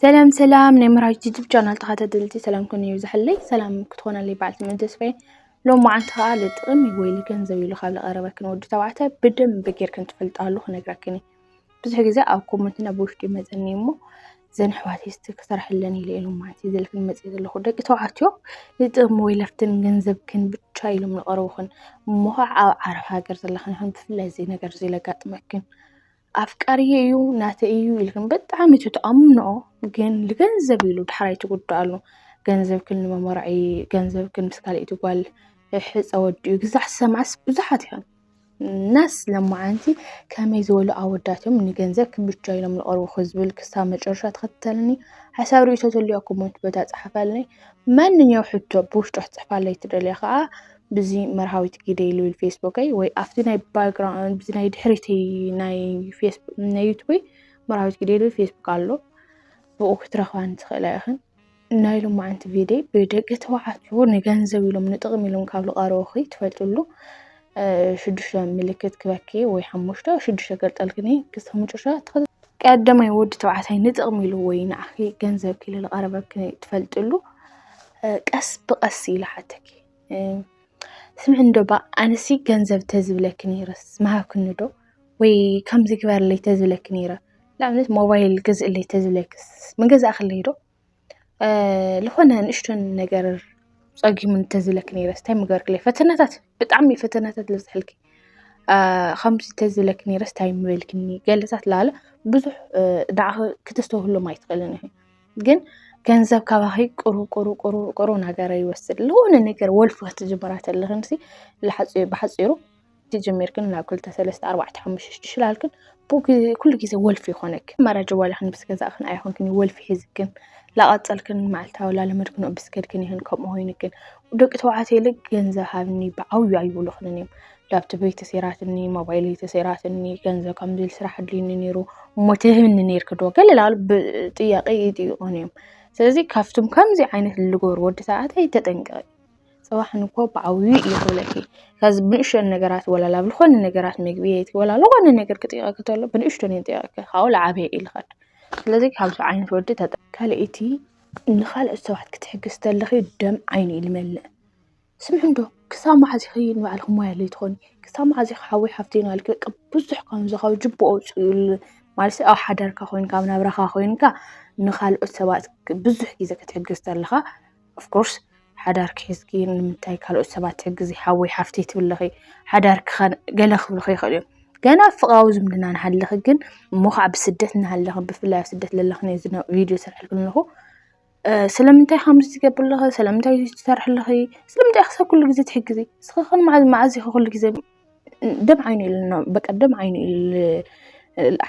ሰላም ሰላም ናይ መራዊት ጅጅብ ቻናል ተኸታተልቲ ሰላምኩም ይብዝሐለይ ሰላም ክትኾነለይ በዓል ትምእን ተስፋዬ ሎም መዓንቲ ከዓ ልጥቕም ወይ ልገንዘብ ኢሉ ካብ ዝቐረበክን ወዲ ተባዕታይ ብደንብ ጌርክን ትፈልጣሉ ክነግረክን እዩ ብዙሕ ግዜ ኣብ ኮመንትና ብውሽጢ ይመፀኒ እሞ ዘን ኣሕዋት ስቲ ክሰርሐለን ኢለ ኢሎም ማለት እዩ ዘልክን መፅእ ዘለኹ ደቂ ተባዕትዮ ልጥቕም ወይ ለፍትን ገንዘብክን ብቻ ኢሎም ዝቐረቡክን እሞ ከዓ ኣብ ዓረብ ሃገር ዘለኽን ይኹን ብፍላይ እዚ ነገር እዚ ለጋጥመክን ኣፍቃሪየ እዩ ናተይ እዩ ኢልክን ብጣዕሚ ትትኣምንኦ ግን ልገንዘብ ኢሉ ዳሕራይ ትጉዳኣሉ ገንዘብክን ንመመርዒ ገንዘብክን ምስ ካልኣይቲ ጓል ሕፀ ወዲኡ ግዛዕ ሰማዕስ ብዙሓት እዮም ናስ ለማዓንቲ ከመይ ዝበሉ ኣወዳት እዮም ንገንዘብ ክብቻ ኢሎም ዝቐርቡ ክዝብል ክሳብ መጨረሻ ተኸተልኒ ሓሳብ ርእይቶ ተልዮ ኮመንት በታ ጸሓፋልኒ ማንኛው ሕቶ ብውሽጦ ክትጽሕፋለይ ትደልያ ከዓ ብዚ መርሃዊት ግደይ ልብል ፌስቡከይ ወይ ኣብቲ ናይ ባክግራውንድ ብዚ ናይ ድሕሪተይ ናይ ናይ ዩቱበይ መርሃዊት ግደይ ልብል ፌስቡክ ኣሎ ብኡ ክትረኽባን ትኽእላ ኢኽን ናይ ሎማዓንቲ ቪድዮ ብደቂ ተባዕትዮ ንገንዘብ ኢሎም ንጥቕሚ ኢሎም ካብ ዝቐረቡኺ ትፈልጥሉ ሽዱሽተ ምልክት ክበኪ ወይ ሓሙሽተ ሽዱሽተ ገርጠልክኒ ክሳብ መጨረሻ ቀዳማይ ወዲ ተባዕታይ ንጥቕሚ ኢሉ ወይ ንዓኺ ገንዘብ ክኢሉ ዝቐረበኪ ትፈልጥሉ ቀስ ብቐስ ኢሉ ሓተኪ ስምዒ እንዶ እባ ኣነሲ ገንዘብ ተዝብለኪ ነይረስ ምሃብክኒ ዶ ወይ ከምዚ ግበርለይ ተዝብለኪ ነይረ ንኣብነት ሞባይል ግዝእለይ ተዝብለክስ ምገዛእክለይ ዶ ልኾነ ንእሽቶ ነገር ፀጊሙኒ ተዝብለኪ ነይረስ ታይ ምገበርክለይ ፈተናታት ብጣዕሚ እዩ ፈተናታት ዝበዝሐልኪ ከምዚ ተዝብለኪ ነይረስ ታይ ምበልክኒ ገለታት ላለ ብዙሕ ንዓኺ ክተስተውህሎም ኣይትኽእልን ኢኺ። ግን ገንዘብ ካባኺ ቁሩ ቁሩ ቁሩ ቁሩ ነገረ ይወስድ ለሆነ ነገር ወልፊ ክትጅምራ ተለኽን ሲ ብሓፂሩ ትጅሚርክን ናብ ክልተ ሰለስተ ኣርባዕተ ሓሙሽተ ሽዱሽተ ላልክን ኩሉ ግዜ ወልፊ ይኾነክ መራጀ ዋላኽን ምስ ገዛእክን ኣይኹንክን ወልፊ ሒዝክን ላቐፀልክን መዓልታዊ ላለመድክን ብስከድክን ይኽን ከምኡ ኮይንክን ደቂ ተባዕትዮ ኢለ ገንዘብ ሃብኒ ብዓብዩ ኣይብሉኽንን እዮም ላፕቶበይ ተሰይራትኒ፣ ሞባይለይ ተሰይራትኒ፣ ገንዘብ ከምዚ ስራሕ ኣድልዩኒ ነይሩ እሞ ትህብኒ ነይርኪ ዶ ገለ ላሉ ጥያቄ ይጥይቆን እዮም። ስለዚ ካብቶም ከምዚ ዓይነት ልገሩ ወዲ ተባዕታይ ተጠንቀቂ። ፅባሕ ንግሆ ብዓብዩ እዩ ክብለኪ ካብዚ ብንእሽተን ነገራት ወላ ላብ ዝኾነ ነገራት ምግቢ የይቲ ወላ ዝኾነ ነገር ክጥይቀኪ ተሎ ብንእሽተን እዩ ጥያቄ ካብኡ ልዓበየ እዩ ልኸድ። ስለዚ ካብዚ ዓይነት ወዲ ተጠ ካልኣይቲ ንኻልኦት ሰባት ክትሕግዝ ተለኺ ደም ዓይኑ እዩ ልመልእ። ስምዑ እንዶ ክሳብ መዓዝ ኢኺ ንባዕልኺ ሞያ ኣለይ ትኾኒ ክሳብ መዓዝ ኢኺ ሓወይ ሓፍተይ ንባዕልኪ በቃ ብዙሕ ከምዚ ካብ ጅቡኡ ኣውፅኡ ማለት ኣብ ሓዳርካ ኮይንካ ኣብ ናብራኻ ኮይንካ ንኻልኦት ሰባት ብዙሕ ግዜ ክትሕግዝ ተለኻ ኦፍኮርስ ሓዳርኪ ሒዝኪ ንምንታይ ካልኦት ሰባት ትሕግዚ ሓወይ ሓፍተይ ትብሊ ኣለኺ ሓዳርኪ ከ ገለ ክብልኺ ይኽእሉ እዮም ገና ኣብ ፍቅራዊ ዝምድና እናሃለኺ ግን እሞ ከዓ ብስደት እናሃለኺ ብፍላይ ኣብ ስደት ለለኺ ነዚ ቪድዮ ዝሰርሐልኪ ዘለኹ ስለምንታይ ከምዚ ትገብሪ ኣለኺ ስለምንታይ እዚ ትሰርሒ ኣለኺ ስለምንታይ ኢኺ ክሳብ ኩሉ ግዜ ትሕግዚ እስኺ ኸ መዓዝ ኢኺ ኩሉ ግዜ ደም ዓይኒ ኢሉ ኣሎ በቃ ደም ዓይኒ ኢሉ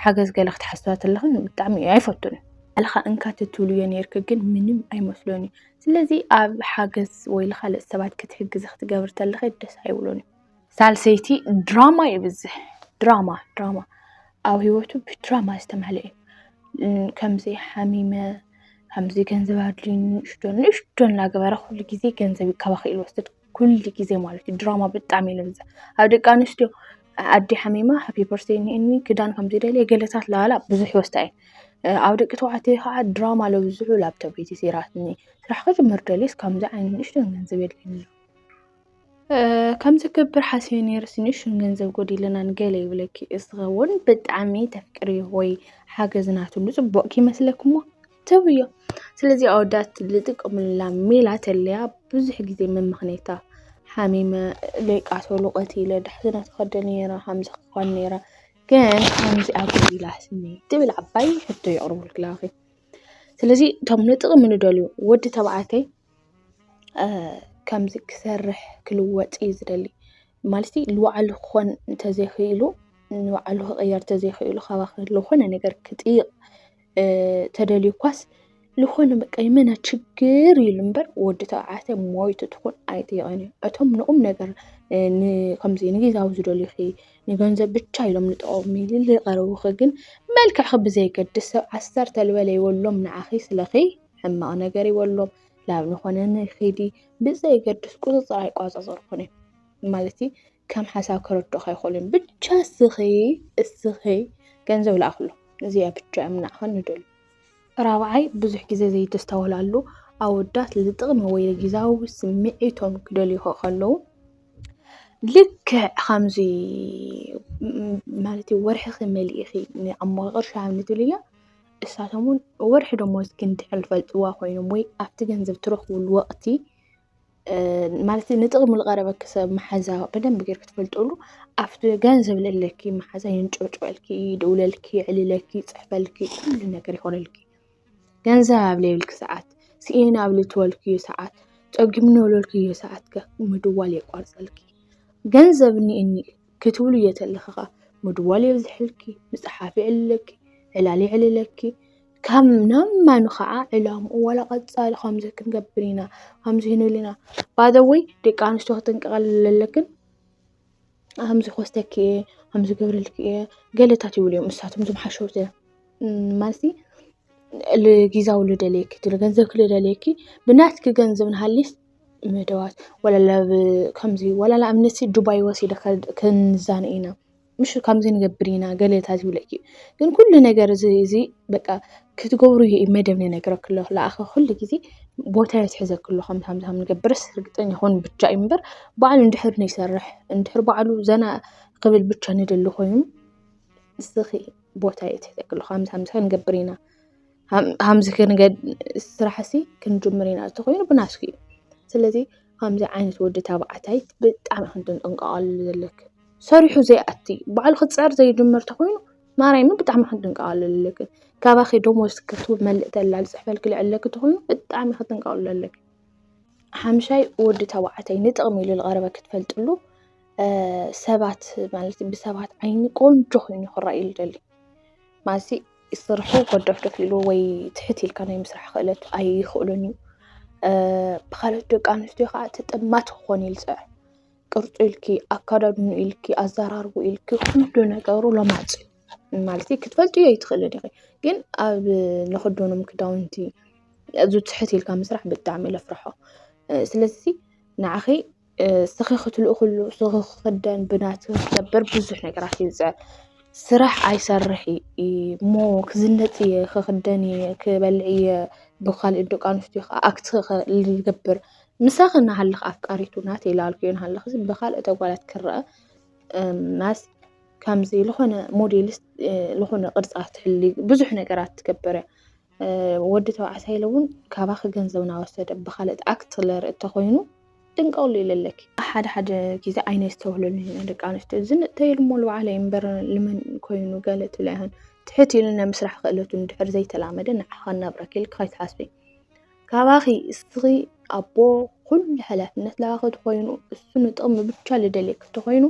ሓገዝ ገለ ክትሓስቢ ተለኺ ብጣዕሚ እየ ኣይፈቱን ባዕልኻ እንካ ተትብሉ እየ ኔርኪ ግን ምንም ኣይመስሎን እዩ ስለዚ ኣብ ሓገዝ ወይ ካልኦት ሰባት ክትሕግዚ ክትገብሪ ተለኺ ደስ ኣይብሎን እዩ። ሳልሰይቲ ድራማ የብዝሕ ድራማ ድራማ ኣብ ሂወቱ ብድራማ ዝተመልኤ እዩ። ከምዚ ሓሚመ ከምዚ ገንዘብ ኣድልዩኒ ንእሽቶ ንእሽቶ እናገበረ ኩሉ ግዜ ገንዘብ ካብ ኣኺሉ ይወስድ ኩሉ ግዜ ማለት እዩ። ድራማ ብጣዕሚ እዩ ዘብዝሕ ኣብ ደቂ ኣንስትዮ ኣደ ሓሚማ ሃፒ በርዝደይ እኒኣኒ ክዳን ከምዚ ደልየ ገለታት ላላ ብዙሕ ይወስዳ እየን። ኣብ ደቂ ተባዕትዮ ከዓ ድራማ ዘብዝሑ ላፕቶፕ እዩ ተሰይራትኒ ስራሕ ክጅምር ደልየስ ከምዚ ዓይነት ንእሽቶ ገንዘብ የድልየኒ ኣሎ። ከም ዝገብር ሓስበ ነይረ ስኒ ሽም ገንዘብ ጎዲለናን ገለ ይብለኪ ዝኸውን ብጣዕሚ ተፍቅርዮ ወይ ሓገዝ ናትሉ ፅቡቕ ክይመስለኪ እሞ ተውዮ። ስለዚ ኣወዳት ዝጥቀሙላ ሜላ ተለያ ብዙሕ ጊዜ መመኽነይታ ሓሚመ ለይቃተሉ ቀቲለ ዳሕስና ተኸደ ነይረ ሃምዚ ክኾን ነይረ ግን ሃምዚ ኣጎዲላ ስኒ ትብል ዓባይ ሕቶ የቕርበልክላኺ። ስለዚ እቶም ንጥቕሚ ንደልዮ ወዲ ተባዕተይ ከምዚ ክሰርሕ ክልወጥ እዩ ዝደሊ ማለት ንባዕሉ ክኾን እንተዘይኽኢሉ ንባዕሉ ክቕየር እንተዘይኽኢሉ ካባኻ ዝኾነ ነገር ክጥይቕ ተደልዩ እኳስ ዝኾነ በቃ የመና ችግር ኢሉ እምበር ወዲ ተባዕታይ ሞይቱ ትኹን ኣይጥይቕን እዩ። እቶም ንቑም ነገር ከምዚ ንግዜያዊ ዝደልዩኺ ንገንዘብ ብቻ ኢሎም ዝጠቕሙ ዝቐረቡኺ ግን መልክዕኺ ብዘየገድስ ሰብ ዓሰርተ ልበለ ይበሎም ንዓኺ ስለኺ። ሕማቕ ነገር ይበሎም ላብ ዝኾነ ንኺዲ ብዘየገድስ ቁፅፅር ኣይቋፃፀርኩን እየ ማለት ከም ሓሳብ ከረድኡኻ ይኽእሉን ብቻ እስኺ እስኺ ገንዘብ ላኣኽሎ እዚኣ ብቻ እዮም ናዕኸን ንደሉ ራብዓይ ብዙሕ ግዜ ዘይተስተውላሉ ኣወዳት ልጥቕሚ ወይ ልጊዛዊ ስምዒቶም ክደልዩ ከለዉ ልክዕ ከምዚ ማለት ወርሕኺ መሊእኺ ንኣሞቐቕርሻ ንትብልያ እሳቶም ውን ወርሒ ደሞዝ ክንድሕር ዝፈልጥዋ ኮይኖም ወይ ኣብቲ ገንዘብ ትረኽብሉ ወቕቲ ማለት ንጥቕሚ ዝቐረበኪ ሰብ መሓዛ ብደንቢ ጌርኪ ትፈልጥሉ ኣብቲ ገንዘብ ለለኪ መሓዛ የንጨብጭበልኪ፣ ይድውለልኪ፣ የዕልለኪ፣ ይፅሕፈልኪ ኩሉ ነገር ይኾነልኪ። ገንዘብ ኣብ ዘይብልኪ ሰዓት፣ ስኢነ ኣብ ልትበልክዮ ሰዓት፣ ፀጊሙኒ ኣብ ዝበልክዮ ሰዓት ከ ምድዋል የቋርፀልኪ። ገንዘብ እኒኤኒ ክትብሉ እየ ተለኺ ከኣ ምድዋል የብዝሐልኪ ምጽሓፍ የዕልለኪ ዕላል የዕልለኪ ካብ ናብ ማኑ ከኣ ዕላምኡ ዋላ ቀጻሊ ከምዚ ክንገብር ኢና ከምዚ ክንብል ኢና ባደወይ ደቂ ኣንስትዮ ክጥንቀቐልና ኣለክን ከምዚ ክወስደኪ እየ ከምዚ ክገብረልኪ እየ ገለታት ይብሉ እዮም እሳቶም እዞም ሓሸውቲ ማለትሲ ልጊዛዊ ልደልየኪ እቲ ገንዘብኪ ልደልየኪ ብናትኪ ገንዘብ ንሃሊስ መደባት ዋላ ንኣብነት ዱባይ ወሲደካ ክንዛነ ኢና ምሽ ከምዚ ንገብር ኢና ገለ እንተ ዝብለኪ ግን ኩሉ ነገር እዚ እዚ በቃ ክትገብሩ እዩ መደብ ዝነግረኪ ዘሎ ለኣኸ ኩሉ ግዜ ቦታ እዩ ዝሕዘኪ ዘሎ ከምዚ ከምዚ ከምዝገብርስ ርግጠኛ ኩን ብቻ እዩ እምበር ባዕሉ እንድሕር ዘይሰርሕ እንድሕር ባዕሉ ዘና ክብል ብቻ ዝደሊ ኮይኑ ንስኺ ቦታ እዩ ዝሕዘኪ ዘሎ ከምዚ ከምዚ ክንገብር ኢና። ሃምዚ ክንገድ ስራሕሲ ክንጅምር ኢና እንተኾይኑ ብናትኪ እዩ። ስለዚ ከምዚ ዓይነት ወዲ ተባዕታይ ብጣዕሚ ኢኺ ክትጥንቀቓሉ ዘለኪ። ሰሪሑ ዘይኣቲ ባዕሉ ክፅዕር ዘይጅምር እንተኾይኑ ማርያምን ብጣዕሚ ኢኺ ክትጥንቀቓሉ ዘለኪ። ካባኺ ደሞዝ ክትመልእ ተላ ዝፅሕፈልኪ ልዕሊ ለኪ እንተኾይኑ ብጣዕሚ ኢኺ ክትጥንቀቓሉ ዘለኪ። ሓምሻይ ወዲ ተባዕታይ ንጥቕሚ ኢሉ ዝቐረበኪ ትፈልጥሉ ሰባት ማለት ብሰባት ዓይኒ ቆንጆ ኮይኑ ክረኣየሉ ይደሊ ማለት ስርሑ ጎዶፍዶፍ ኢሉ ወይ ትሕት ኢልካ ናይ ምስራሕ ክእለት ኣይኽእሎን እዩ። ብካልኦት ደቂ ኣንስትዮ ከዓ ተጠማቲ ክኾን እዩ ዝፅዕር። ቅርፁ ኢልኪ፣ ኣከዳድንኡ ኢልኪ፣ ኣዘራርብኡ ኢልኪ ኩሉ ነገሩ ሎማፅ እዩ። ማለት ክትፈልጥዮ ኣይትኽእልን ኢኺ። ግን ኣብ ንኽደኖም ክዳውንቲ ኣዝዩ ትሕት ኢልካ ምስራሕ ብጣዕሚ እየ ዘፍርሖ። ስለዚ ንዓኺ ስኺ ክትልእኽሉ ስኺ ክኽደን ብናቱ ክትገብር ብዙሕ ነገራት እዩ ዝፅዕር። ስራሕ ኣይሰርሕ እዩ እሞ ክዝንጥ እየ ክኽደን እየ ክበልዕ እየ ብኻሊእ ደቂ ኣንስትዮ ከዓ ኣክት ክገብር ምሳኺ እናሃለኻ ኣፍቃሪቱ ናተይ ላልከዮ እናሃለኺ ብኻልኦት ኣጓላት ክረኣ ናስ ከምዚ ዝኾነ ሞዴሊስት ዝኾነ ቅርፃ ትሕሉ ብዙሕ ነገራት ትገብር እያ። ወዲ ተባዕታይ ኢለ እውን ካባኺ ገንዘብ ናወሰደ ብካልእት ኣክት ለርኢ እተኾይኑ ድንቀውሉ ኢለ ኣለኪ። ሓደ ሓደ ግዜ ኣይነስተውህለሉን ኢና ደቂ ኣንስትዮ ዝንእተየሉ እሞ ልባዕለ እዩ እምበር ልመን ኮይኑ ገለ ትብላ ይሆን ትሕት ኢሉ ናይ ምስራሕ ክእለቱ እንድሕር ዘይተላመደ ንዓ ከናብረኪ ኢልኪ ከይትሓስቢ ካባኺ እስኺ ኣቦ ኩሉ ሓላፍነት ላባኺ ተኾይኑ እሱ ንጥቕሚ ብቻ ልደልየኪ ተኾይኑ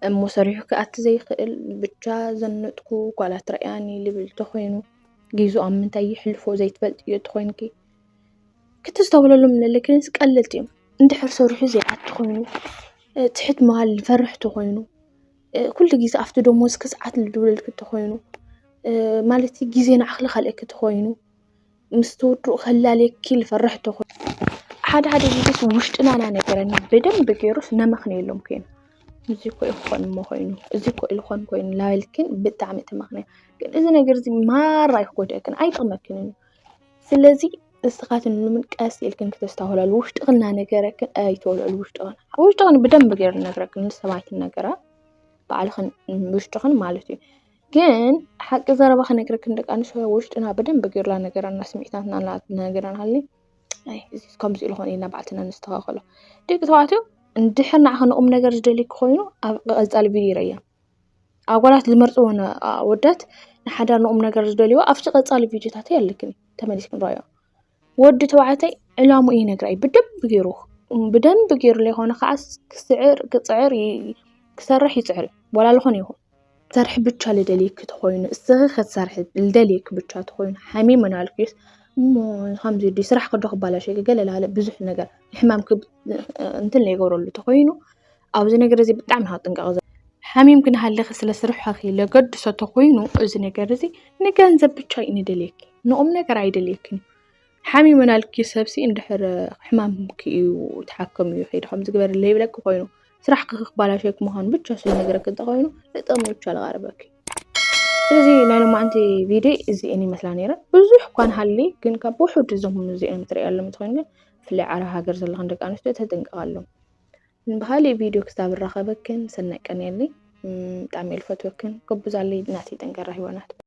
እሞ ሰሪሑ ክኣቲ ዘይክእል ብቻ ዘነጥኩ ጓላት ረኣያኒ ልብል ተኾይኑ ጊዙ ኣብ ምንታይ ይሕልፎ ዘይትፈልጥ እዮ ተኾይንኪ ክትዝተብለሉ ምለለክን ቀልልቲ እዮም እንድኅር ሠርሑ ዘይኣቲ ኾይኑ ትሕት መሃል ፈርኅ ተኾይኑ ኲሉ ጊዜ ኣፍቲ ዶሞ ዝኪ ሰዓት ልድብለልኪ ተኾይኑ ማለቲ ጊዜ ንኣኽሊ ኸልእክ ተኾይኑ ምስ ተወድኡ ኸላለኪ ልፈርኅ ተኾይኑ ሓድ ሃደ ጊዜስ ውሽጥናና ነገረና ብደም ብጌሩስ ነመኽን የሎም ኴኑ እዙይ ኮይ ኾን ኾይኑ እዙይ ኮይ ልኾን ኮይኑ ላበልክን ብጥዕሚ ትምኽንያ። ግን እዚ ነገር እዚ ማራ እዩ ክጎድኣክን ኣይጠቕመክንን እዩ ስለዚ ንስኻትክን ውን ቀስ ኢልክን ክተስተውህላሉ ውሽጥኽን እናነገረክን ኣይተውልዕሉ ውሽጥኽን ኣብ ውሽጥኽን ብደንቢ ጌሩ ዝነግረክን ንሰብ ኣይትናገራ ባዕልኽን ውሽጥኽን ማለት እዩ ግን ሓቂ ዘረባ ክነግረክን ደቂ ኣንስትዮ ኣብ ውሽጥና ብደንቢ ጌሩ እናነገረና ስምዒታትና እናነገረና ሃልዩ ኣይ እዚ ከምዚ ኢሉ ኾይኑ ኢልና ባዕልትና ነስተኻኽሎ ደቂ ተባዕትዮ እንድሕር ንዓኻ ንቑም ነገር ዝደልዩኪ ኮይኑ ኣብ ቀጻሊ ቪድዮ ይርኣየና። ኣጓላት ዝመርጽወን ኣወዳት ንሓዳር ንቑም ነገር ዝደልዎ ኣብቲ ቀጻሊ ቪድዮታተይ ኣለክን ተመሊስ ክንረዮ ወዲ ተባዕተይ ዕላሙ እይ ነግራይ ብደብ ገይሩ ብደምቢ ገይሩ ለይኾነ ኸዓ ክስዕር ክጽዕር ክሠርሕ ይጽዕር ወላልኾን ይኹን ሠርኅ ብቻ ልደልየኪ ተኾይኑ እስኽ ኽትሠርሒ ልደልየኪ ብቻ ተኾይኑ ኃሚ መናልኪስ እሞ ኻምዙይ ሥራሕ ክዶኽባላሸ ገለላለ ብዙኅ ነገር ንሕማም እንትን ለይጐረሉ ተኾይኑ። ኣብዚ ነገር እዚ ብጣዕሚ ካብ ጥንቃቐ ዘ ሓሚም ክንሃለኺ ስለ ስርሖኺ ለገድሶ ተኾይኑ እዚ ነገር እዚ ንገንዘብ ብቻ እዩ ንደልየኪ ንቑም ነገር ኣይደልየክን እዩ ሓሚሙ ናልኪ ሰብሲ እንድሕር ሕማምኪ እዩ ተሓከሙ እዩ ከይዲ ከምዚ ግበሪ ለይብለኪ ኮይኑ ስራሕኪ ክባላሸወኪ ምዃኑ ብቻ ስለ ነገረኪ እንተኾይኑ ንጥቕሚ ብቻ ልቐርበኪ ስለዚ ናይ ሎማዓንቲ ቪድዮ እዚአን ይመስላ ነይረ ብዙሕ እኳ ንሃሊ ግን ካብ ውሑድ እዞም እዚኦም ትሪእያሎም እንትኾይኑ ግን ብፍላይ ዓረብ ሃገር ዘለኽን ደቂ ኣንስትዮ ተጥንቀቓሎም ብካሊእ ቪድዮ ክሳብ ንራከበክን ሰናይ ቀን የለይ ብጣዕሚ እየ ዝፈትወክን ጎብዛለይ ናተይ ጠንካራ ሂዋናት።